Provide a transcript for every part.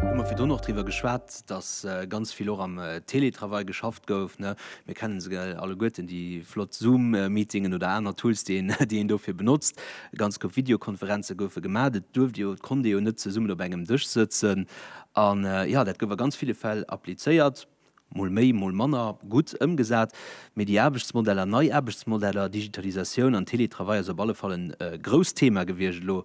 Hu mer virdu och driwwer geschwat, datt ganz vill och am Télétravail geschafft gouf. Mir kennen se alleguerten, déi flott Zoom-Meetingen oder aner Tools, déi een dofir benotzt. Ganz koup Videokonferenze goufe gemaach. Et duerft ee jo, et konnt ee jo net zesummen op engem Dësch sëtzen. An, jo, dat gouf a ganz ville Fäll applizéiert. Mol méi, mol manner gutt ëmgesat, mee déi Aarbechtsmodeller, nei Aarbechtsmodeller, Digitalisatioun an Teletravail ass op alle Fall e grousst Thema gewiescht elo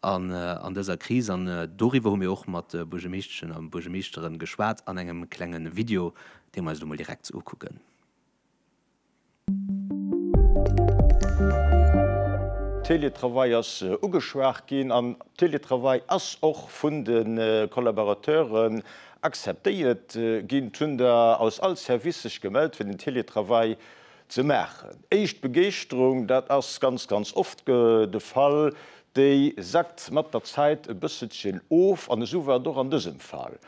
an dëser Kris. An doriwwer hu mir och mat Buergermeeschteschen a Buergermeeschtere geschwat an engem klenge Video, dee mer eis elo mol direkt ukucken. Télétravail ass ugeschwat ginn an Télétravail ass och vun de Collaborateuren akzeptéiert ginn. Et hunn der aus all Service sech gemellt fir den Télétravail ze maachen. Éischt Begeeschterung, dat ass ganz ganz oft de Fall, déi sackt mat der Zäit e bësselchen of an esou war et och an dësem Fall.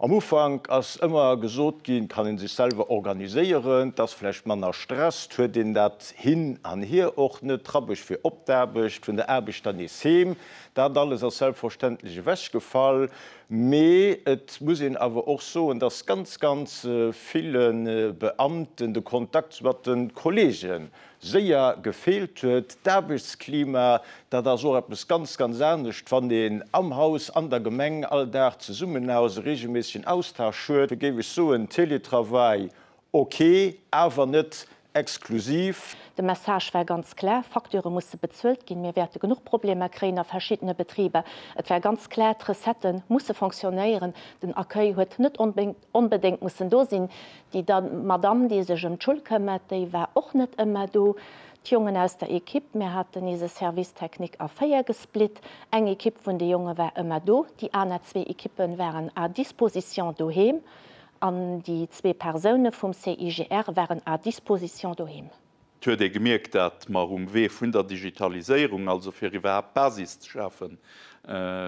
Am Ufank ass ëmmer gesot ginn, et kann ee sech selwer organiséieren, et ass vläicht manner Stress, et huet een dat Hin an Hier och net, d'Rabbecht fir op d'Aarbecht, vun der Aarbecht dann nees heem, dat alles ass selbstverständlech ewechgefall. Mee et muss een awer och soen, dass ganz, ganz ville Beamten de Kontakt mat de Kollege séier gefeelt huet. D'Aarbechtsklima, dat ass och eppes ganz, ganz anescht, wann een am Haus, an der Gemeng all Dag zesummen ass, e reegelméissegen Austausch huet. Da géif ech soen, Teletravail ok, awer net exklusiv. De Message war ganz klar, Facture musse bezuelt ginn, mir wäerte genuch Problemer kréien a verschiddene Betriber. Et war ganz klar, d'Recettë musse fonctionnéieren, den Accueil huet net onbedéngt mussen do sinn, Déi Madamm, déi sech ëm d'Schull këmmert, déi war och net ëmmer do. D'Jongen aus der Equipe, mir haten eise Service technique a véier gesplitt, eng Equipe vun de Jonge war ëmmer do, déi aner zwee Equippe waren à disposition doheem an déi zwee Persoune vum CIGR waren à disposition doheem. Et huet ee gemierkt, datt mer um Wee vun der Digitaliséierung, also fir iwwerhaapt d'Basis ze schafen,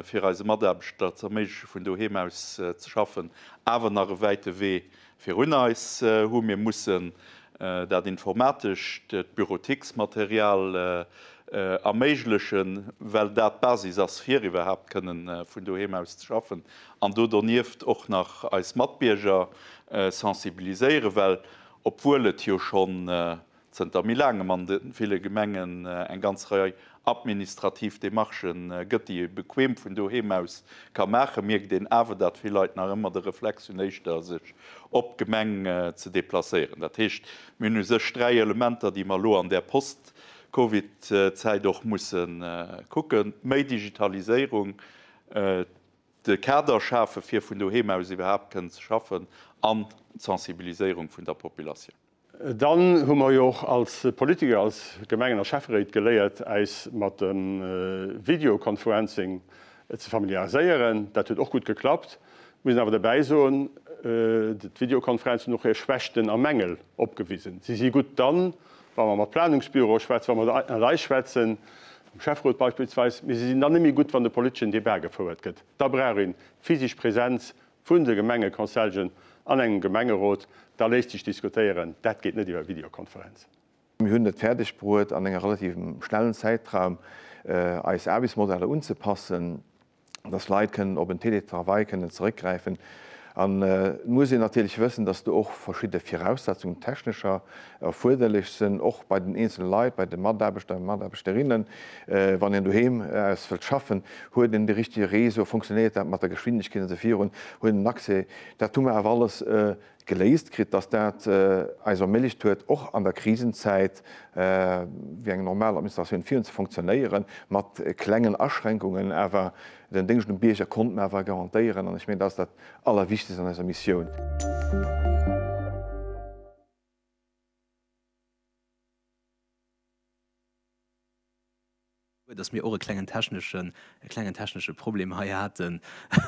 fir eise Mataarbechter ze erméigleche vun doheem aus ze schaffen, awer nach e wäite Wee virun eis hu. Mir mussen dat informatescht, d'Büroticksmaterial erméiglechen, well dat d'Basis ass, fir iwwerhaapt kënne vun doheem aus ze schaffen, an do donieft och nach eis Matbierger sensibiliséieren, well Obwuel et jo schonn zënter méi laangem an de ville Gemengen eng ganz Rei administrativ Demarchë gëtt, déi ee bequeem vun doheem aus ka maachen, mierkt een awer, dat vill Leit nach ëmmer de Reflex hunn, éischter sech op d'Gemeng ze deplacéieren. Dat heescht, mir hunn u sech dräi Elementer, déi mer elo an där Post-Covid-Zäit och musse kucken, méi Digitaliséierung, De Kader schafe fir vun doheem aus iwwerhaapt kënnen ze schaffen an d'Sensibiliséierung vun der Populatioun. Dann hu mer jo och als Politiker, als Gemengen a Schäfferéit geléiert äis mat dem Videoconferencing ze familiariséieren. Dat huet och gutt geklappt. Muss een awer derbäi soen, d'Videoconferenzen hunn och hir Schwächten a Mängel opgewisen. Si si gutt dann, wa mer mat Planungsbüroe schwätzen, wa mer ënnerlei schwätzen, um Schäfferot beispillsweis, mee se sinn dann net méi gutt, wann de politeschen Debat gefouert gëtt. Da brauch een d'physisch Präsenz vun de Gemengeconseljen an engem Gemengerot, da léisst sech diskutéieren. Dat geet net iwwer Videokonferenz. Mir hunn et fäerdegbruet, an engem relativ schnellen Zäitraum eis Aarbechtsmodeller unzepassen. dass Leit kënnen op en Télétravail kënnen zeréckgräifen. An et muss een natierlech wëssen, dass do och verschidde Viraussetzungen technescher erfuerderlech sinn, och bei den eenzele Leit, bei de Mataarbechter, Mataarbechterinnen. Wann een doheem aus wëllt schaffen, huet een de richtege Réseau, funktionéiert dat mat der Geschwindegkeet an esou virun, huet een Accès, dat hu mer awer alles Geléist kritt, dass dat eis erméiglecht huet, och an der Krisenzäit wéi eng normal Administratioun virun ze funktionéieren, mat klengen Aschränkungen, awer den Déngscht um Bierger konnte mer awer garantéieren, an ech mengen, dat ass dat Allerwichtegst an eiser Missioun. Guer, dass mir och e klengen techneschen, e klengen technesche Problem hei haten.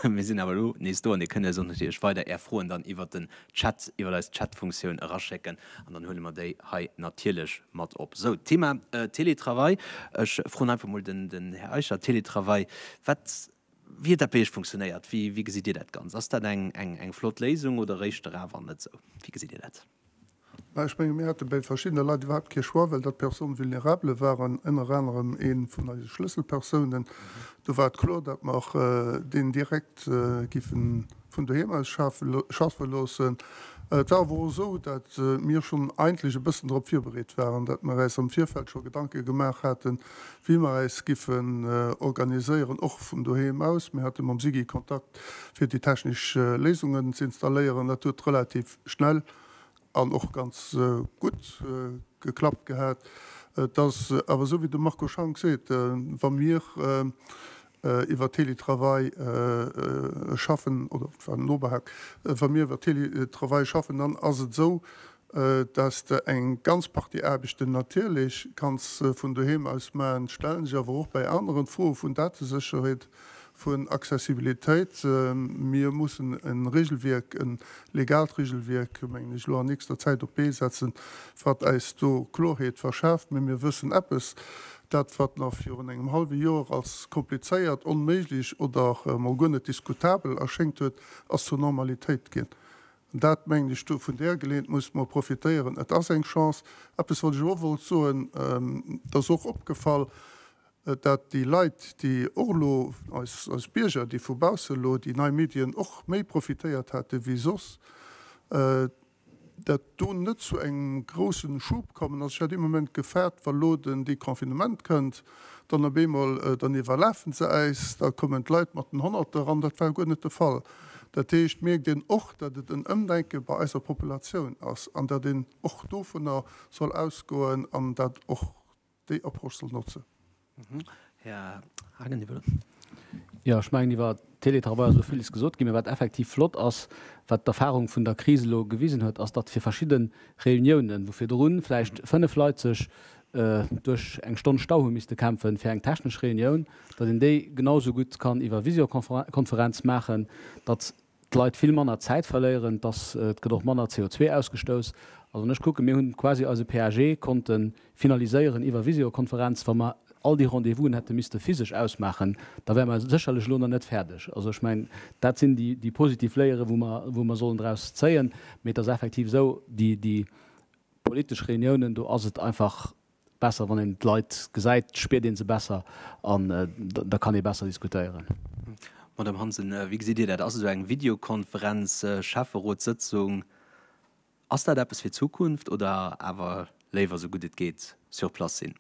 Mir sinn awer elo nees do an Dir kënnt eis och natierlech weider Är Froen dann iwwert den Chat, iwwert eis Chatfunktioun eraschécken an dann huele mer déi hei natierlech mat op. Sou, d'Thema Teletravail, ech froen einfach mol den Här Eicher, Teletravail, wat Wéi huet dat bei Iech funktionéiert? Wéi gesitt Dir dat Ganzt? Ass dat eng flott Léisung oder eréischt der awer net esou? Wéi gesitt Dir dat? Mä ech menge mir hate bei verschiddene Leit iwwerhaapt kee Choix, well dat Personnes vulnérables waren, ënner anerem ee vun eise Schlësselpersounen. Do war et kloer, datt mer deen direkt géife vun doheem aus schaffe loossen. Et war awer och esou, datt mir schonn eigentlech e bëssen drop virbereet waren, datt mer äis am Virfeld scho Gedanke gemaach haten, wéi mer äis giffen organiséieren, och vun doheem aus. Mir hate mam SIGI Kontakt fir déi technesch Léisungen ze installéieren. Dat huet relativ schnell an och ganz gutt geklappt gehat. Et ass awer esou wéi de Marco Schank seet, wa mir iwwer Teletravail schaffen oder et war nobehaakt, wa mir iwwer Teletravail schaffen, dann ass et esou, dass Der eng ganz Partie Aarbechten natierlech kanns vun doheem aus maachen. Ech stellen sech awer och bei aneren d'Froe vun Datesécherheet, vun Accessibilitéit. Mir mussen e Regelwierk, e legaalt Regelwierk, mengen ech, elo an nächster Zäit op d'Bee setzen, wat eis do Klorheet verschaaft. Mä mir wëssen eppes, Dat, wat nach virun engem hallwe Joer als komplizéiert, onméiglech oder emol guer net diskutabel erschéngt huet, ass zur Normalitéit ginn. An dat, mengen ech, do vun där Geleeënt musse mer profitéieren. Et ass eng Chance. Eppes, wat ech och wollt soen, et ass och opgefall, dat déi Leit, déi och elo, eis, eis Bierger, déi vu bausse elo déi nei Medien och méi profitéiert hate wéi soss, dat do net zu engem groussen Schub kommen ass. Ech hat ee Moment gefaart, wa lo den Deconfinement kënnt, dann op eemol, dann iwwerlafen se äis, da kommen d'Leit mat den Honnerter eran. Dat war guer net de Fall. Dat heescht, mierkt een och, datt et en Ëmdenke bei eiser Populatioun ass an datt een och dovunner soll ausgoen an dat och déi Approche soll notzen. Här Hagen, Dir wëllt. Jo, ech mengen, iwwer Teletravail ass elo villes gesot ginn. Mä wat effektiv flott ass, wat d'Erfahrung vun der Kris elo gewisen huet, ass, datt fir verschidde Reuniounen, wou virdru vläicht fënnef Leit sech duerch eng Stonn Stau hu misste kämpfen fir eng technesch Reunioun, datt een déi genau esou gutt kann iwwer Visiokonferenz maachen, datt d'Leit vill manner Zäit verléieren, dass et gëtt och manner CO2 ausgestouss. Also ech kucken, mir hunn quasi eise PAG konnte finaliséieren iwwer Visiokonferenz. Wa mer all déi Rendez-vousen hätte misste physesch ausmaachen, da wäre mer sécherlech elo nach net fäerdeg. Also ech mengen, dat sinn déi positiv Léiere wou mer sollen draus zéien. Mee et ass effektiv esou, déi politesch Reuniounen, do ass et einfach Besser wann een d'Leit gesäit, spiert een se besser an da kann ee besser diskutéieren. Madame Hansen, wéi gesitt Dir dat? Ass esou eng Videokonferenz, Schäfferotssëtzung, ass dat eppes fir d'Zukunft oder awer léiwer esou gutt et geet sur place sinn?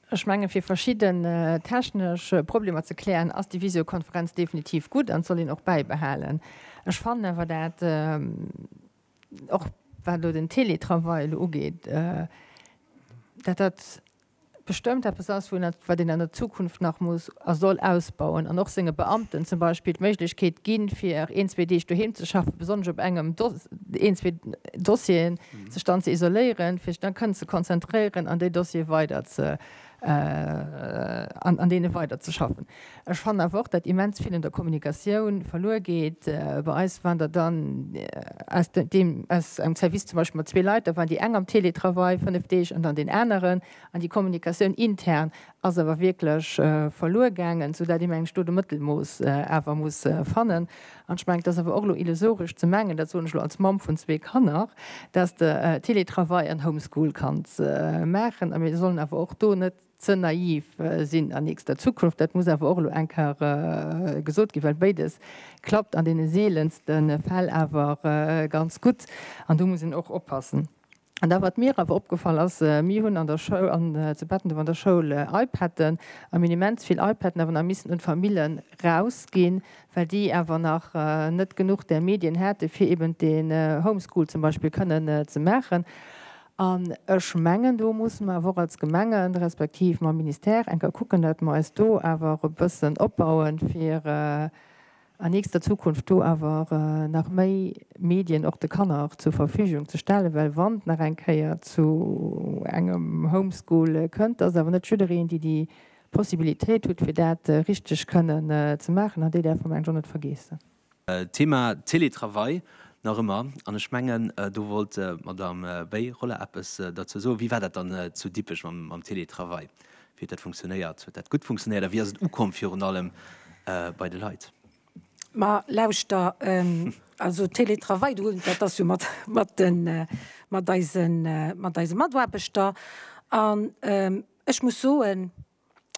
Ech menge fir verschidden technesch Problemer ze klären, ass déi Visiokonferenz definitiv gutt an d'soll een och bäibehalen. Ech fannen awer dat, och wat elo den Teletravail elo ugeet, dat dat bestëmmt eppes ass, wou een, wat een an der Zukunft nach muss a soll ausbauen an och senge Beamten zum Beispill d'Méiglechkeet ginn, fir een, zwee Deeg doheem ze schaffen, besonnesch op engem Dos-, een, zwee Dossieren. sech dann ze isoléieren, fir sech dann kënnen ze konzentréieren an déi Dossiere weider ze, an deene weider ze schaffen. Ech fannen awer och, datt immens vill un der Kommunikatioun verluer geet bei eis, wann Der dann aus deem, aus engem Service zum Beispill mat zwee Leit, da waren déi eng am Teletravail fënnef Deeg an dann deen aneren, an déi Kommunikatioun intern ass awer wierklech verluer gaangen, soudatt ee mengt, do de Mëttelmooss awer muss fannen. An ech mengen, et ass awer och elo illusoresch ze mengen, dat soen ech elo als Mamm vun zwee Kanner, dass de Télétravail an Homeschool kanns maachen. A mir sollen awer och do net ze naiv sinn an nächster Zukunft. Dat muss awer och elo eng Kéier gesot ginn, well béides klappt an deene seelenste Fäll awer ganz gutt. An do muss een och oppassen. An da wat mir awer opgefall ass, mir hunn an der Schoul, an zu Bettenduerf an der Schoul iPaden a mir hunn immens vill iPaden awer nach missen un d'Famillen rausginn, well déi awer nach net genuch där Medien haten, fir eben dee Homeschool zum Beispill kënnen ze maachen. An ech mengen, do musse mer awer och als Gemengen, respektiv mam Ministère enker kucken, datt mer eis do awer e bëssen opbauen, fir a nächster Zukunft do awer nach méi Medien och de Kanner zur Verfügung ze stellen, well wann et nach eng Kéier zu engem Homeschool kënnt, dass awer net jiddereen déi déi Possibilitéit hutt fir dat richteg kënnen ze maachen an déi däerf mer mengen ech och net vergeessen. Thema Télétravail nach ëmmer, an ech mengen do wollt d'Madame Beyrola eppes derzou soen, wéi war dat dann zu Dippech mam Télétravail? Wéi huet dat funktionéiert? Huet dat gutt funktionéiert a wéi ass et ukomm virun allem bei de Leit? Ma lauschter, also Télétravail, do hunn, dat ass jo mat, mat de, mat eisen, mat eise Mataarbechter. An ech muss soen,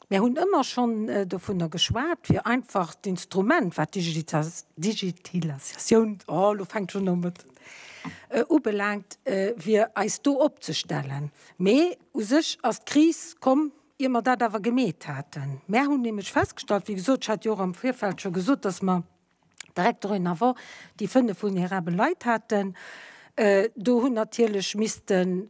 mir hunn ëmmer schonn dovunner geschwat, fir einfach d'Instrument, wat d'Digitalisatioun, oh elo fänkt schonn un, ubelangt, fir eis do opzestellen. Mee u sech ass d'Kris komm, ier mer dat awer gemeet haten. Mär hunn nämlech festgestallt, wéi gesot, ech hat jo och am Virfeld scho gesot, dass mer direkt dorénavant déi fënnef vulnerabel Leit haten, do hunn natierlech missten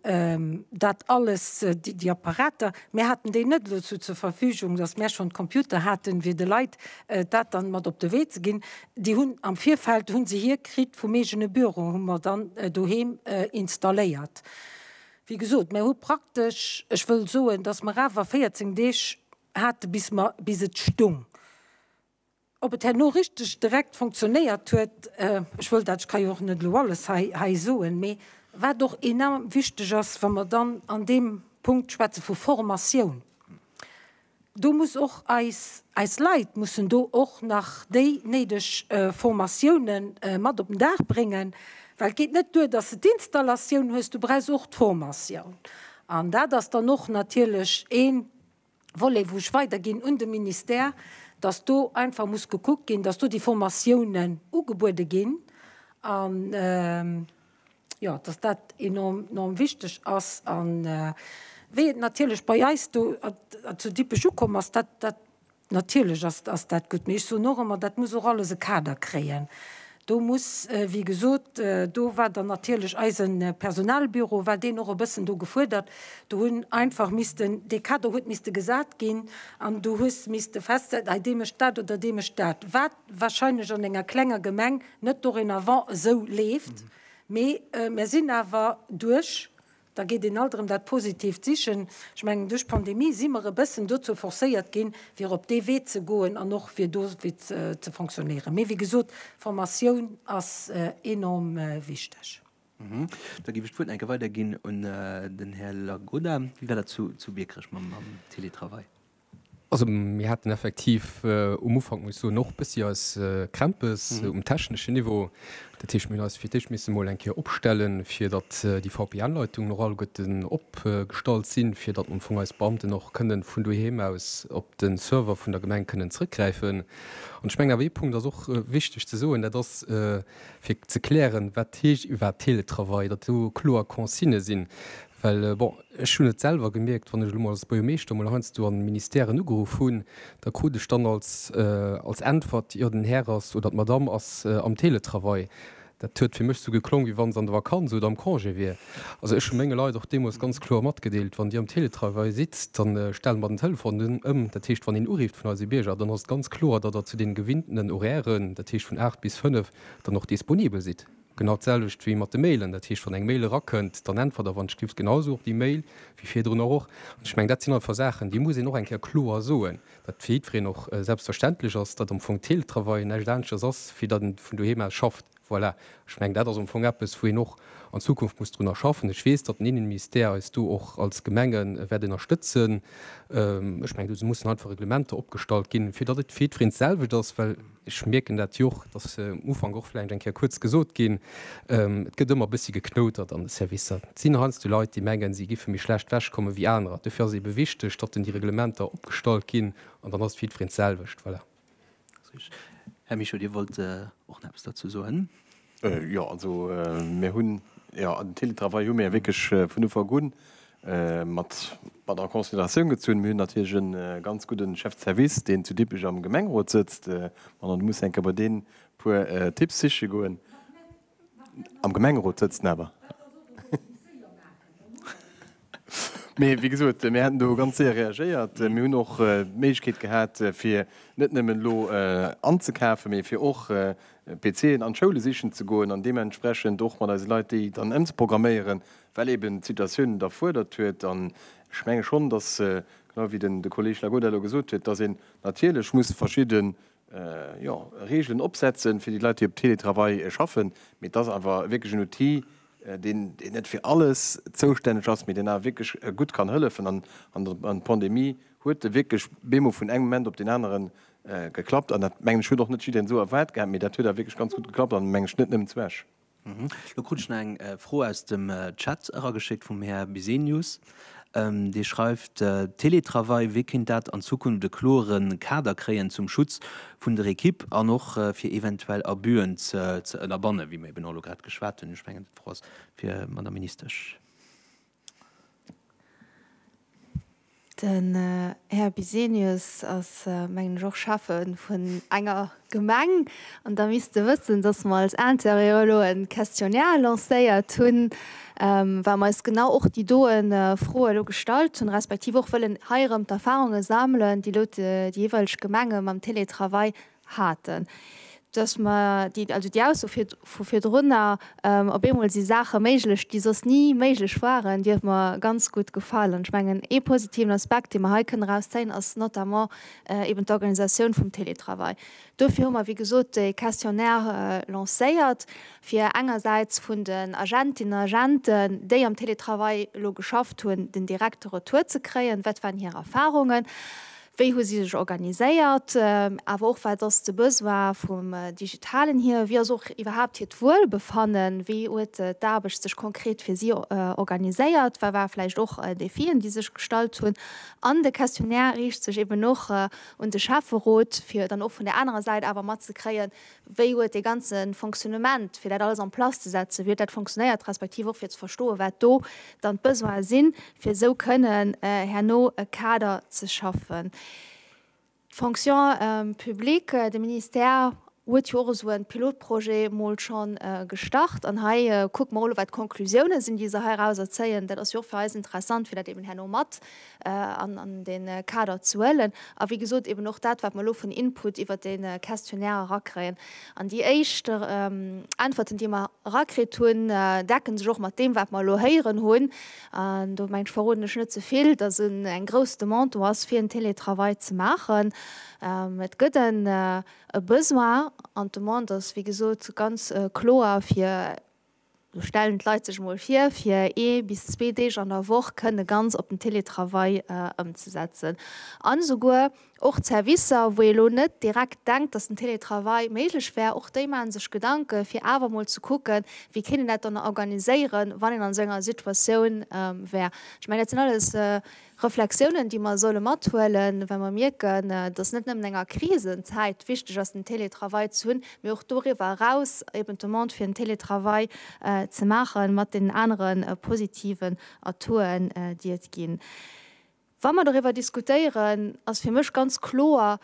dat alles, déi Apparater, mär haten déi net elo zu zur Verfügung, dass mär schonn d'Computer haten, fir de Leit dat dann mat op de Wee ze ginn. Déi hunn am Virfeld hu se hir kritt vum eegene Büro, hu mer dann doheem installéiert. Wéi gesot, mer hu praktesch, ech wëll soen, datt mer awer 14 Deeg hate bis mer, bis et stung. Ob et herno richteg direkt fonctionnéiert huet, ech wëll dat, ech ka jo och net elo alles hei, hei soen, mee wat och enorm wichteg ass, wa mer dann an deem Punkt schwätze vu Formatioun, Do muss och eis, eis Leit mussen do och nach déi néideg Formatioune mat op den Dag bréngen, well et geet net duer, dass de d'Installatioun hues, du brauchs och d'Formatioun. An dat ass dann och natierlech ee Volet, wou ech weiderginn un de Ministère, dass do einfach muss gekuckt ginn, dass do déi Formatiounen ugebuede ginn an, jo, dass dat enorm, enorm wichteg ass. A wéi et natierlech bei eis do zu Dippech ukomm ass, dat, dat, natierlech ass, ass dat gutt. Mee ech soen och ëmmer, dat muss och alles e Kader kréien. Do muss, wéi gesot, do war dann natierlech eise Personalbüro, war deen och e bëssen do gefuerdert. Do hunn einfach missten, dee Kader huet misste gesat ginn an du hues misste festsetzen, hei dee mécht dat oder dee mécht dat. Wat wahrscheinlech an enger klenger Gemeng net dorénavant esou leeft, mee mir sinn awer duerch, da geet een alt erëm dat Positiivt sichen, ech mengen duerch d'Pandemie si mer e bëssen dozou forcéiert ginn, fir op dee Wee ze goen an och fir do ze fonctionnéieren. Mee wéi gesot, Formatioun ass enorm wichteg. Da géif ech d'Wuert nach enke weiderginn un den Här Lagoda. Wéi war dat zu Biekerech mam Teletravail? Also mir haten effektiv um Ufank, muss ech soen, och e bëssi eis Krämpes um techneschen Niveau. Dat heescht, mir hunn eis fir d'éischt misse mol eng Kéier opstellen, fir datt déi VPN-Leitungen och alleguerten opgestallt sinn, fir datt am Fong eis Beamten och kënnen vun doheem aus op de Server vun der Gemeng kënnen zrëckgräifen. An ech mengen awer, ee Punkt ass och wichteg ze soen, dat ass, fir ze klären, wat heescht iwwerhaapt Teletravail, datt do kloer Consignë sinn, well bon, Ech hunn et selwer gemierkt, wann ech elo mol als Buergermeeschter emol heiansdo an Ministèren ugeruff hunn, da krut ech dann als, als Äntwert, jo den Här ass, oder d'Madame ass am Teletravail. Dat huet fir mech esou geklong, wéi wann se an de Vakanz oder am Congé wier. Also ech hu menge Leit och deemools ganz kloer matgedeelt, wann Dir am Teletravail sidd, da stelle mer den Telefon ëm. Dat heescht, wann een urifft vun eise Bierger, dann ass et ganz kloer, datt Der zu deene gewinnten Horairen, dat heescht vun 8 bis 5, dann och disponibel sidd. Genau d'selwecht wéi mat de Mailen. Dat heescht, wann eng Mail erakënnt, dann äntwert der wann d'Schlift genau esou op déi Mail wéi virdrun och. Och ech mengen, dat sinn einfach Saachen, déi muss een och eng Kéier kloer soen, datt fir jiddwereen och selbstverständlech ass, datt am Fong Teletravail näischt aneschtes ass, wéi datt een vun doheem aus schafft. Voilà, ech mengen, dat ass am Fong eppes, wou een och an Zukunft muss drunner schaffen. Ech weess, datt den Innenministère eis do och als Gemenge wäert ënnerstëtzen. Ech mengen, do mussen einfach Reglementer opgestallt ginn, fir datt et fir jiddwereen d'selwecht ass, well, Ech mierken dat jo och, dass um Ufank och vläicht eng Kéier kuerz gesot ginn, et gëtt ëmmer e bëssi geknoutert an de Servicer. Et sinn heiansdo Leit, déi mengen, si géife méi schlecht ewech komme wéi anerer. Dofir ass et ebe wichteg, datt dann déi Reglementer opgestallt ginn an dann ass et fir jiddwereen d'selwecht. Voilà. Här Michaux, Dir wollt och nach eppes dozou soen. Jo, also mir hunn, jo, den Teletravail hu mir jo wierklech vun Ufank un mat en Consideratioun gezunn. Mir hunn natierlech e ganz gudde Chef de service, deen zu Dippech am Gemengerot sëtzt. An dann muss enke bei deen e puer Tipps siche goen. Am Gemengerot sëtzt en awer. Mee wéi gesot, mir hätten do ganz séier reagéiert. Mir hunn och d'Méiglechkeet gehat, fir net nëmmen elo anzekafen, mee fir och PCen an d'Schoule sichen ze goen an deementsprechend och mat eise Leit déi dann ëmzeprogramméieren, well eeben d'Situatioun et erfuerdert huet. An ech menge schonn, dass, genau wéi de Kolleeg Lagoda elo gesot huet, dass een natierlech muss verschidde jo, Regeln opsetzen fir déi Leit, déi op Télétravail schaffen, mee et ass awer wierklech en Outil, deen net fir alles zoustänneg ass, mee deen awer wierklech gutt kann hëllefen. An an d'Pandemie huet e wierklech bemo vun engem Moment op deen aneren geklappt. An dat, mengen ech, huet och net jiddereen esou erwaart gehat, mee dat huet awer wierklech ganz gutt geklappt an, mengen ech, net nëmmen zu Esch. Lo krut ech nach eng Fro aus dem Chat erageschéckt vum Här Bisenius. Dee schreift, Teletravail, wéi kéint dat an Zukunft e kloere Kader kréien zum Schutz vun der Ekipp an och fir eventuell Abüen ze ënnerbannen, wéi mer eben och elo grad geschwat hunn? Ech mengen d'Fro ass fir d'Madame Ministesch. Den Här Bisenius ass, mengen ech, och Schäffe vun enger Gemeng. An da misst e wëssen, datt mer als Interieur elo e Questionnaire lancéiert hunn, well mer eis genau och déi doe Froe elo gestallt hunn, respektiv och wëllen hei erëm d'Erfahrunge sammelen, déi elo déi jeeweileg Gemenge mam Teletravail haten, dass mer déi, also déi Ausso vu virdrunner, op eemol si Saache méiglech, déi soss ni méiglech waren, déi huet mer ganz gutt gefall. An ech mengen, ee positiven Aspekt, dee mer hei kënnen erauszéien, ass notamment eeben d'Organisatioun vum Télétravail. Dofir hu mer, wéi gesot, dee Questionnaire lancéiert, fir engersäits vun den Agentinnen an Agenten, déi am Télétravail elo geschafft hunn, den direkte Retour ze kréien, wat waren hir Erfarungen, Wéi hu si sech organiséiert? Awer och, wat ass de Besoin vum Digitalen hier? Wéi ass och iwwerhaapt hiert Wuelbefannen? Wéi huet d'Aarbecht sech konkret fir si organiséiert? Wat ware vläicht och Defien, déi sech gestallt hunn? An de Questionnaire riicht sech eben och un de Schäfferot, fir dann och vun där anerer Säit awer matzekréien, Wéi huet dee ganze Fonctionnement, fir dat alles en place ze setzen, wéi huet dat fonctionnéiert, respektiv och fir ze verstoen, wat do dann d'Besoine sinn, fir esou kënnen herno e Kader ze schaffen? D'Fonction publique, de Ministère huet jo och esou e Pilotprojet mol schonn gestart. An hei kucke mer mol, wat d'Conclusiounen sinn, déi se heirauser zéien. Dat ass jo och fir eis interessant, fir dat eeben herno mat an de Kader ze huelen a wéi gesot eben och dat, wat mer elo vun Input iwwert dee Questionnaire erakréien. An déi éischt Äntwerten, déi mer erakritt hunn, decken sech och mat deem, wat mer elo héieren hunn, an do mengen ech, verroden ech net ze vill, dass eng grouss Demande do ass, fir en Télétravail ze maachen. Et gëtt en Besoin an d'Demande ass, wéi gesot, ganz kloer, fir, Do stellen d'Leit sech emol vir, fir ee bis zwee Deeg an der Woch kënne ganz op den Télétravail ëmzesetzen. An esouguer och d'Servicer, wou ee elo net direkt denkt, datt den Télétravail méiglech wär, och déi maache sech Gedanken, fir awer emol ze kucken, wéi kéint een dat dann organiséieren, wann een an esou enger Situatioun wär. Ech mengen, dat sinn alles. Reflexiounen, déi mer solle mathuelen, well mer mierken, dass net nëmmen an enger Krisenzäit wichteg ass, den Télétravail ze hunn, mee och doriwwer eraus, eben d'Demande fir den Télétravail ze maachen, mat deenen anere positiven Atouten, déi et ginn. Wa mer doriwwer diskutéieren, ass fir mech ganz kloer,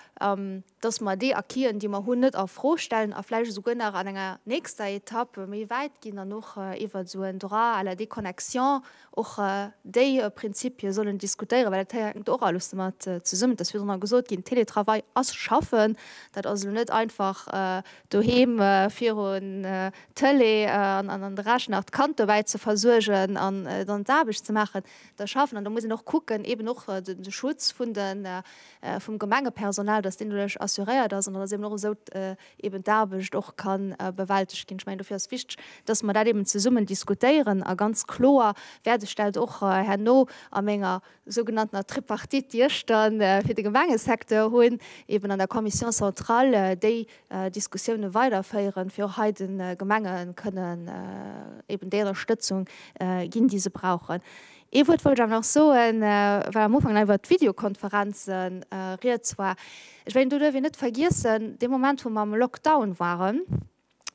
dass mer déi Acquisen, déi mer hunn, net a Fro stellen a vläicht esouguer nach an enger nächster Etapp méi wäit ginn an och iwwert esou en Droit à la déconnexion och déi Prinzipie sollen diskutéieren, well dat hänkt och alles domat zesummen. Et ass virdrun gesot ginn, Teletravail ass schaffen. Dat ass elo net einfach doheem virun d'Tëlee an an de Rechner d'Kand dobäi ze versuergen an dann d'Aarbecht ze maachen. Dat ass schaffen an da muss een och kucken, eeben och de Schutz vun de vum Gemengepersonal, dass deen doduerch assuréiert ass an dass eben och esou eben d'Aarbecht och ka bewältegt ginn. Ech mengen, dofir ass wichteg, dass mer dat eben zesummen diskutéieren a ganz kloer wäert ech dat och herno a menger sougenanntener Tripartite, déi ech da fir de Gemengesecteur hunn, eben an der Commission centrale déi Diskussiounen weiderféieren, fir och hei de Gemenge kënnen eben déi Ënnerstëtzung ginn, déi se brauchen. Ee Wuert wollt ech awer nach soen, well am Ufank nach iwwert d'Videokonferenze Rieds war. Ech wéilt do duerfir net vergiessen, dee Moment, wou mer am Lockdown waren,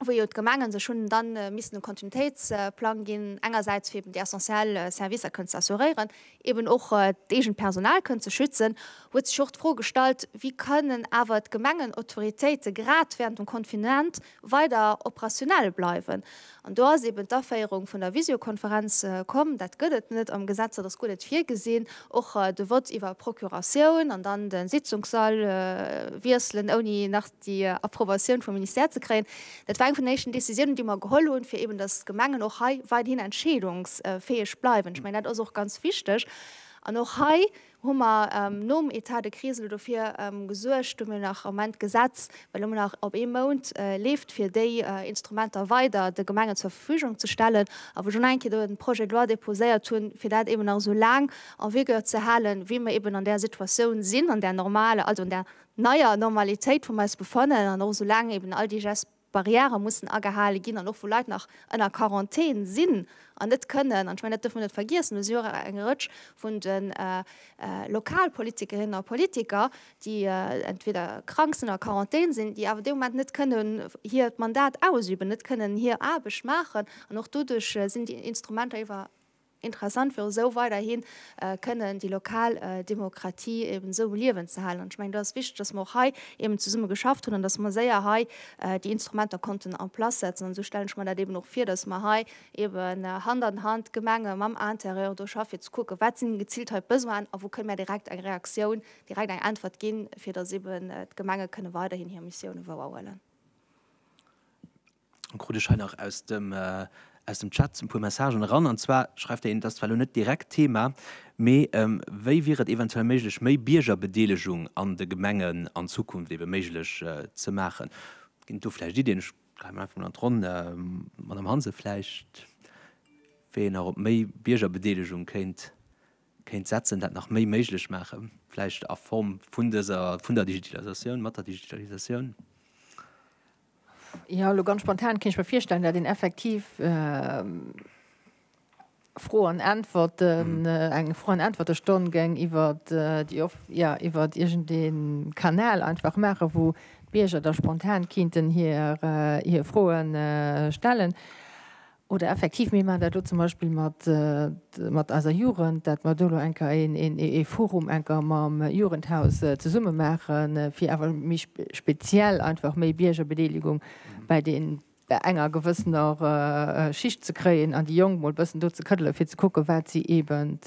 wou jo d'Gemengen sech hunn dann missen e Kontinuitéitsplang ginn, engersäits fir eben déi essentiell Servicer kënnen ze assuréieren, eben och d'eegent Personal kënnen ze schützen, huet sech och d'Fro gestallt, Wéi kënnen awer d'Gemengen, Autoritéite grad während dem Confinement weider operationell bleiwen. An do ass eben d'Aféierung vun der Visiokonferenz komm. Dat gëtt et net am Gesetz, dat ass guer net virgesinn. Och de Vott iwwer Procuratioun an dann de Sitzungssall wiesselen, ouni nach déi Approbatioun vum Ministère ze kréien, dat war eng vun den éischten Decisiounen, déi mer geholl hunn, fir eben, datt d'Gemengen och hei weiderhin entscheedungsfäeg bleiwen. Ech mengen, dat ass och ganz wichteg. An och hei, hu mer nom Etat de crise elo dofir gesuergt, do hu mir nach am Moment d'Gesetz, well elo nach op ee Mount leeft, fir déi Instrumenter weider de Gemengen zur Verfügung ze stellen, a wou ech och nach eng Kéier do en Projet de loi déposéiert hunn, fir dat eeben nach esou laang en vigueur ze halen, wéi mer eeben an där Situatioun sinn, an där normaler, also an där neier Normalitéit, wou mer eis befannen, an och esou laang eeben all déi Gest. Barrièrë mussen agehale ginn an och wou Leit nach ënner Quarantän sinn an net kënnen, an ech mengen, dat dierfe mer net vergiessen, do si och eng Rëtsch vun de Lokalpolitikerinnen a politiker, déi entweder krank sinn oder a Quarantän sinn, déi awer dee Moment net kënnen hiert Mandat ausüben, net kënnen hir Aarbecht maachen an och doduerch sinn déi Instrumenter iwwer. Interessant fir esou weiderhi kënnen déi lokal Demokratie eben esou um Liewen ze halen. An ech mengen, do ass et wichteg, datt mer och hei eben zesumme geschafft hunn an datt mer séier hei déi Instrumenter konnten en place setzen. An esou stellen ech mer dat eben och vir, datt mer hei eben Hand an Hand, d'Gemenge mam Intérieur do schaffen, fir ze kucken, wat sinn geziilt hei d'Besoinen a wou kënne mer direkt eng Reaktioun, direkt eng Äntwert ginn, fir datt eben d'Gemenge kënne weiderhin hir Missiounen wouerhuelen. Krut ech hei nach aus dem aus dem Chat e puer Messagen eran. An zwar schreift der een, et ass zwar elo net direkt Thema, mee wéi wier et eventuell méiglech méi Biergerbedeelegung an de Gemengen an Zukunft ebe méiglech ze maachen? Ginn et do vläicht Iddien? Ech dréie mol einfach mol an d'Ronn. Madame Hansen, vläicht wéi een nach op méi Biergerbedeelegung kéint kéint setzen, dat nach méi méiglech maachen, vläicht a Form vun dëser vun der Digitalisatioun, mat der Digitalisatioun? Jo, elo ganz spontan kéint ech mer virstellen, dat een effektiv Fro an Äntwerten, eng Fro an Äntwertestonn géing iwwer déi Off, jo, iwwer iergendee Kanal einfach maachen, wou d'Bierger da spontan kéinten hir Froe stellen. Oder effektiv, mir maachen dat elo zum Beispill mat eiser Jugend, datt mer do elo eng Kéier ee Forum eng Kéier mam Jugendhaus zesumme maachen, fir awer méi speziell einfach méi Biergerbedeelegung bei deenen, bei enger gewëssener Schicht ze kréien an déi Jonk emol e bëssen do ze këddele fir ze kucken, wat si eeben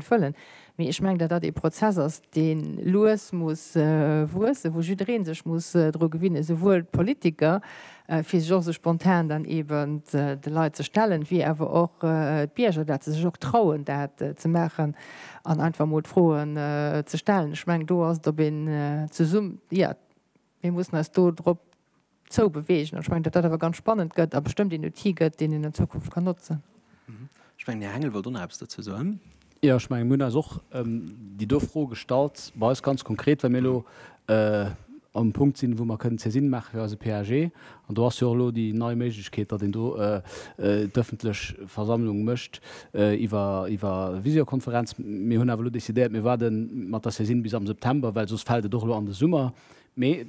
wëllen. Mee ech mengen, datt dat ee Prozess ass, dee lues muss wuessen, wou jidderee sech muss dru gewinnen, esouwuel d'Politiker, fir sech och esou spontan dann eeben de Leit ze stellen, wéi awer och d'Bierger, datt se sech och trauen, dat ze maachen an einfach emol d'Froen ze stellen. Ech mengen, do ass et, ob een zesumm, jo, Mir mussen eis do drop zou bewegen. An ech mengen, datt dat awer ganz spannend gëtt a bestëmmt een Outil gëtt, deen een an Zukunft kann notzen. Ech mengen, den Här Hengel wollt och nach eppes dozou soen. Jo, ech mengen, mir hunn eis och déi do Fro gestallt, bei eis ganz konkret, well mir elo um Punkt sinn, wou mer kënnen d'Saisine maache fir eise PAG. An do ass jo och elo déi nei Méiglechkeet, datt een do d'ëffentlech Versammlung mécht iwwer Visiokonferenz. Mir hunn awer elo decidéiert, mir waarde mat der Saisine bis am September, well soss fält et och elo an de Summer. Mee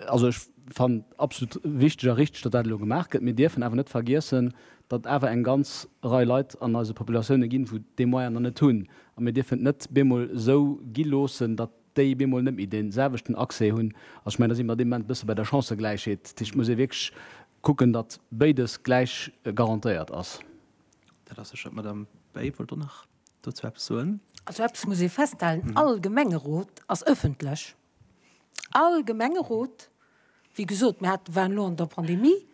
also ech fannen et absolut wichteg a richteg, datt dat elo gemaach gëtt. Mir dierfen awer net vergiessen, datt et awer eng ganz Rei Leit an eise Populatioune ginn, wou déi Moyen der net hunn. A mir dierfen et net bemol esou gi loossen, datt. déi bemol net méi dee selwechten Accès hunn. Also ech mengen, da si mer an deem Moment e bësse bei der Chancëgläichheet. Dat heescht, et muss ee wierklech kucken, datt béides gläich garantéiert ass. Dat ass sécher. D'Madame Bay wollt och nach dozou eppes soen. Also eppes muss ee festhalen, All Gemengerot ass ëffentlech. All Gemengerot Wéi gesot, mir hate, waren elo an der Pandemie,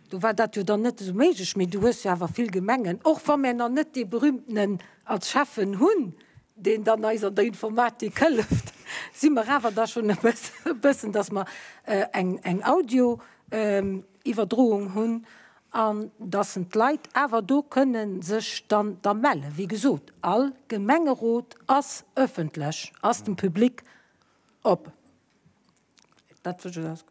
do war dat jo dann net esou méiglech, mee du hues jo awer vill Gemengen, och wa mir nach net dee Berühmtenen als Schäffen hunn, deen dann eis an der Informatik hëlleft, si mer awer da schonn e bëssen, dass mer eng Audio-Iwwerdroung hunn an dass en d'Leit awer do kënne sech dann da mellen. Wéi gesot, all Gemengerot ass ëffentlech, ass dem Public op. Dat wësch ech aus.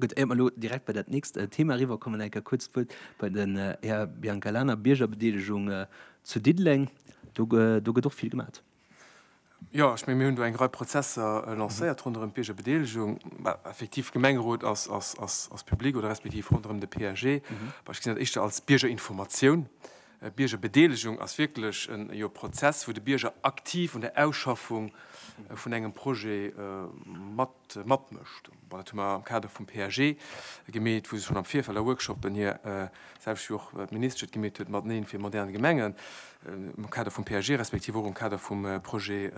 Gutt, éier mer elo direkt bei dat nächst Thema eriwwerkommen, eng Kéier kuerz d'Wuert bei den Här Biancalana, Biergerbedeelegung zu Diddeleng. Do, do gëtt och vill gemat. Jo, ech menge mir hunn do eng Rei Prozesser lancéiert ronderëm d'Biergerbedeelegung. Effektiv, de Gemengerot ass, ass, ass, ass public oder respektiv ronderëm de PAG. Ech gesinn dat éischter als Biergerinformatioun. Ech Biergerbedeelegung ass wierklech e Prozess, wou de Bierger aktiv un der Ausschaffung vun engem Projet matmécht. Dat hu mer am Kader vum PAG gemeet, wou se schonn am Virfeld a Workshoppen hir, selwecht wéi och d'Ministesch et gemeet huet, mateneen fir modern Gemengen, am Kader vum PAG respektiv och am Kader vum Projet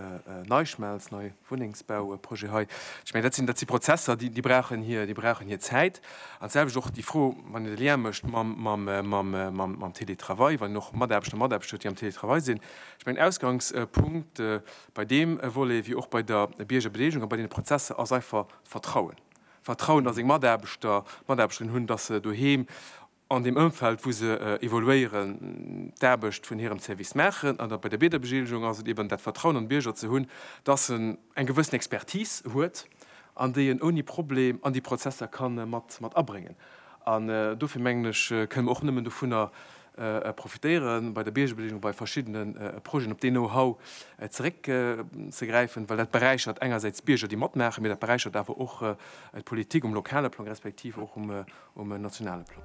NeiSchmelz, Wunnengsbauprojet hei, ech mengen, dat sinn, dat si Prozesser, déi, déi brauchen hir, déi brauchen hir Zäit. An d'selwecht och déi Fro, wann een de Lien mécht mam, mam, mam, mam, mam Télétravail, wann een och Mataarbechter, Mataarbechter huet, déi am Télétravail sinn. Ech mengen, Ausgangspunkt bei deem Volet wéi och bei der Biergerbedeelegung a bei deene Prozesser ass einfach Vertrauen. Vertrauen, datt seng Mataarbechter, Mataarbechterinnen hunn, datt se doheem an deem Ëmfeld, wou se evoluéieren, d'Aarbecht vun hirem Service maachen. An bei der Biederbegelegung ass et eeben dat Vertrauen an de Bierger ze hunn, dass en eng gewëssen Expertis huet an déi en ouni Problem an déi Prozesser ka mat abréngen. An dofir mengen ech, kënne mer och nëmmen dovunner profitéieren, bei der Biergebelegung bei verschiddene Projeten op deen Know-how zeréckzegräifen, well dat beräichert engersäits d'Bierger, déi matmaachen, mä dat beräichert awer och d'Politik um lokale Plang, respektiv och um nationale Plan.